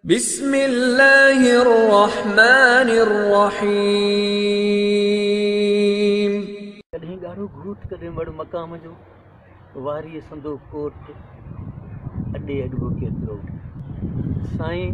بسم الله الرحمٰن الرحيم. ڪڏهن ڳاڙهو گهوٽ ڪڏهن وڙ مقام جو واريء سندو ڪوٽ اڏي اڏبو ڪيترو سائين.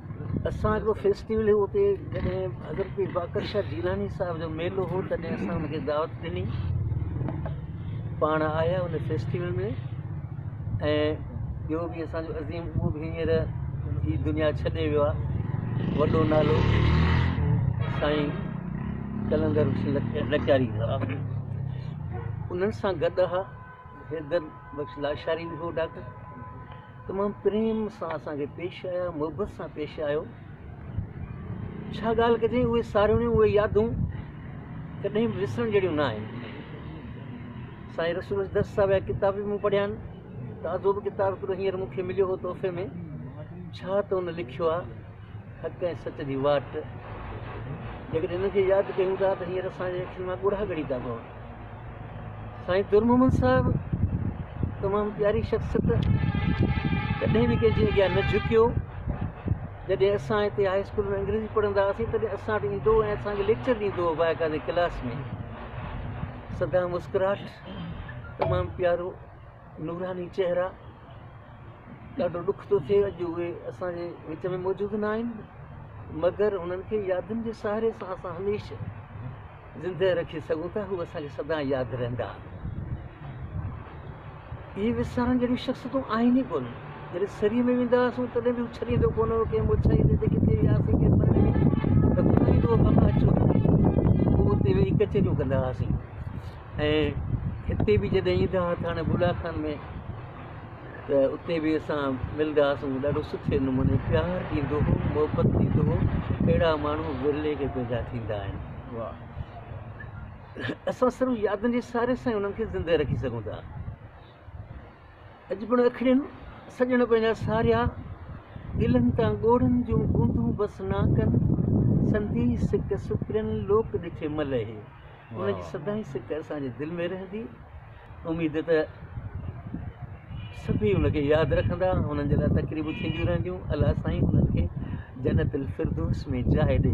اسان هڪڙو فيسٽيول هو اتي جڏهن حضرت پير باقر شاهه جيلاني صاحب جو ميلو هو تڏهن اسان ان کي دعوت ڏني پاڻ آيا ان فيسٽيول ۾ ۽ ٻيو به اسان جو عظيم اهو به هينئر هي دنيا ڇڏي ويو آهي وڏو نالو سائين قلندر لچاري انهن سان گڏ هئا حيدر بخش لاشاري به هو ڊاڪٽر تمام پريم سان اسان کي پيش آيا محبت سان پيش آيو ڇا ڳالهه ڪجي اهي ساريون اهي يادون ڪڏهن به وسرڻ جهڙيون نه آهن سائين رسول دس صاحب جا ڪتاب به مون پڙهيا آهن تازو به ڪتاب هڪڙو هينئر مون کي مليو هو تحفي ۾ ڇا ته هن لکيو آهي حق ۽ سچ جي واٽ جيڪڏهن هن کي ياد ڪيون ٿا ته هينئر اسان جي اکين مان ڳڙها ڳڙي ٿا پون سائين در محمد صاحب تمام پياري شخصيت ڪڏهن به ڪنهن جي اڳيان نه جهڪيو جڏهن اسان هتي هاء اسڪول ۾ انگريزي پڙهندا هئاسين تڏهن اسان وٽ ايندو هو ۽ اسان کي ليڪچر ڏيندو هو باقا جي ڪلاس ۾ سدا مسڪراهٽ تمام پيارو نوراني چهرا ڏاڍو ڏک ٿو ٿئي اڄ اهي اسانجي وچ ۾ موجود نه آهن مگر هنن کي يادن جي سهاري سان اسان هميشه زندهه رکي سگهون ٿا هو اسان کي سدائين ياد رهندا. اهي وسارڻ جهڙيون شخصيتون آهن ئي ڪونه. جڏهن سريء ۾ ويندا هئاسون تڏهن به هو ڇڏيندو ڪونه هو ڪنهن موڇائيء تي ته ڪٿي وياسين ڪنهن پرڏيهي ۾ ته ٻڌائيندو هو بابا اچو هتي. پوء اتي ويهي ڪچهريون ڪندا هئاسين ۽ هتي به جڏهن ايندا هئا ٿاڻي بولا خان ۾ ته اتي به اسان ملدا هئاسون ڏاڍو سٺي نموني پيار ڏيندو هو محبت ڏيندو هو اهڙا ماڻهو ورلي کي پيدا ٿيندا آهن واهه اسان صرف يادن جي ساري سان انهن کي زنده رکي سگهون ٿا اڄ پڻ اکڙين سڄڻ پنهنجا ساريا دلن تان ڳوڙهن جون گونڊون بس ناڪن سندي سڪ سپرين لوڪ ڏٺي ملهي ان جي سدائين سڪ اسان جي دل ۾ رهندي، اميد ته سڀيئي ان کي ياد رکندا، انهن جي لاء تقريبون ٿينديون رهنديون، الله سائين انهن کي جنت الفردوس ۾ جاء ڏي.